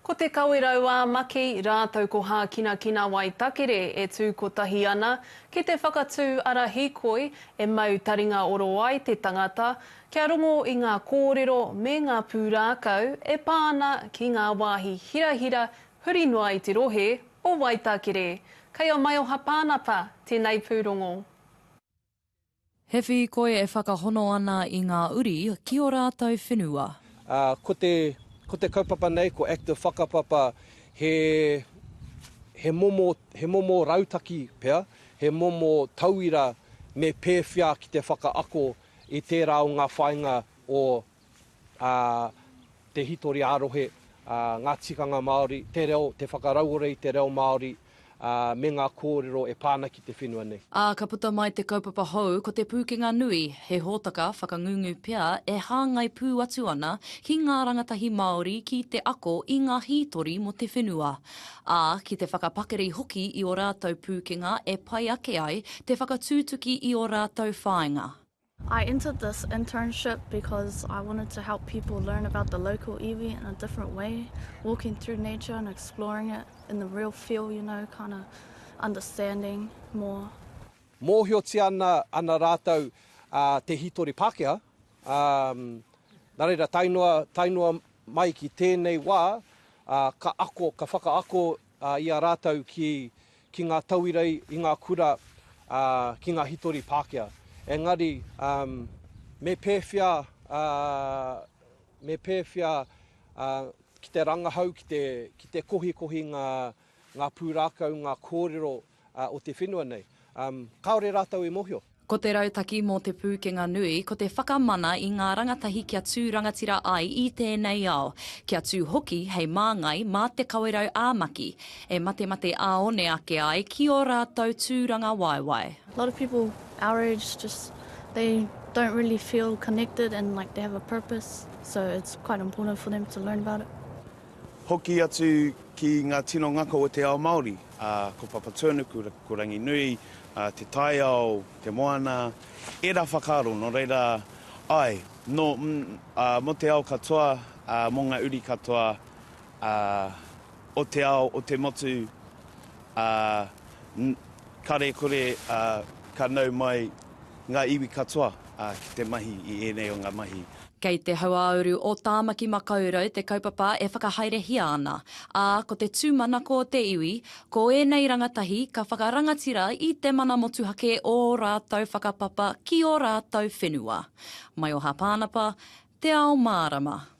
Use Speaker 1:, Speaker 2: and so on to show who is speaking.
Speaker 1: Ko Te Kawerau-ā-Maki rātou ko Hākinakina Waitakere e tū kotahi ana ki te whakatū ara hīkoi e mau taringa oro ai te tangata kia rongo i ngā kōrero me ngā pūrākau e pā ana ki ngā wāhi hirahira huri noa i te rohe o Waitakere. Kei a Maioha Pānapa tēnei pūrongo.
Speaker 2: Hewhi koe e whakahono ana i ngā uri ki o rātou whenua. Ā, ko te,
Speaker 3: ko te kaupapa nei, ko Active Whakapapa, he, he momo, he momo rautaki pea, he momo tauira me pēwhea ki te whakaako i tērā o ngā whāinga o ā, te hītori ā-rohe, ā, ngā tikanga Māori, te reo, te whakarauora i te reo Māori, ā, me ngā kōrero e pā ana ki te whenua nei. Ā, ka puta mai te
Speaker 2: kaupapa hou ko Te Pūkenga Nui, he hōtaka whakangungu pea e hāngai pū atu ana ki ngā rangatahi Māori ki te ako i ngā hītori mō te whenua, ā, ki te whakapakari hoki i ō rātou pūkenga e pai ake ai te whakatūtuki i ō rātou whāinga. I entered
Speaker 4: this internship because I wanted to help people learn about the local iwi in a different way, walking through nature and exploring it in the real feel, you know, kind of understanding more. Mōhiotia
Speaker 3: ana, ana rātou uh, te hītori Pākehā, um, nā reira tae noa, tae noa mai ki tēnei wā, uh, ka ako, ka whakaako ā, i a rātou ki, ki ngā tauira i, i ngā kura, ā, ki ngā hitori Pākehā. Engari, ā, me pēwhea, ā, me pēwhea, ā, ki te rangahau, ki te, ki te kohikohi ngā, ngā pūrākau, ngā kōrero o te whenua nei. Kāore rātou e mōhio. Ko te rautaki mō
Speaker 2: Te Pūkenga Nui, ko te whakamana i ngā rangatahi kia tū rangatira ai i tēnei ao, kia tū hoki hei māngai mā te kawerau ā-maki, e matemate ā-one ake ai ki ō rātou tūrangawaewae. A lot of people
Speaker 4: our age just they don't really feel connected and like they have a purpose so it's quite important for them to learn about it. Hoki
Speaker 5: atu ki ngā tino ngako o te ao Māori, ā, ko Papatūānuku, ko Ranginui, ā, te taiao, te moana, ērā whakaaro, nō reira, āe, nō, mm, ā, mō te ao katoa, ā, mō ngā uri katoa, ā, o te ao, o te motu, ā, mm, karekore, ā, ka nau mai. ngā iwi katoa ki te mahi i ēnei o ngā mahi. Kei te hauāuru
Speaker 2: o Tāmaki Makaurau te kaupapa e whakahaerehia ana, ā, ko te tūmanako o te iwi, ko ēnei rangatahi ka whakarangatira i te mana motuhake o ō rātou whakapapa ki ō rātou whenua. Maioha Pānapa, Te Ao Mārama.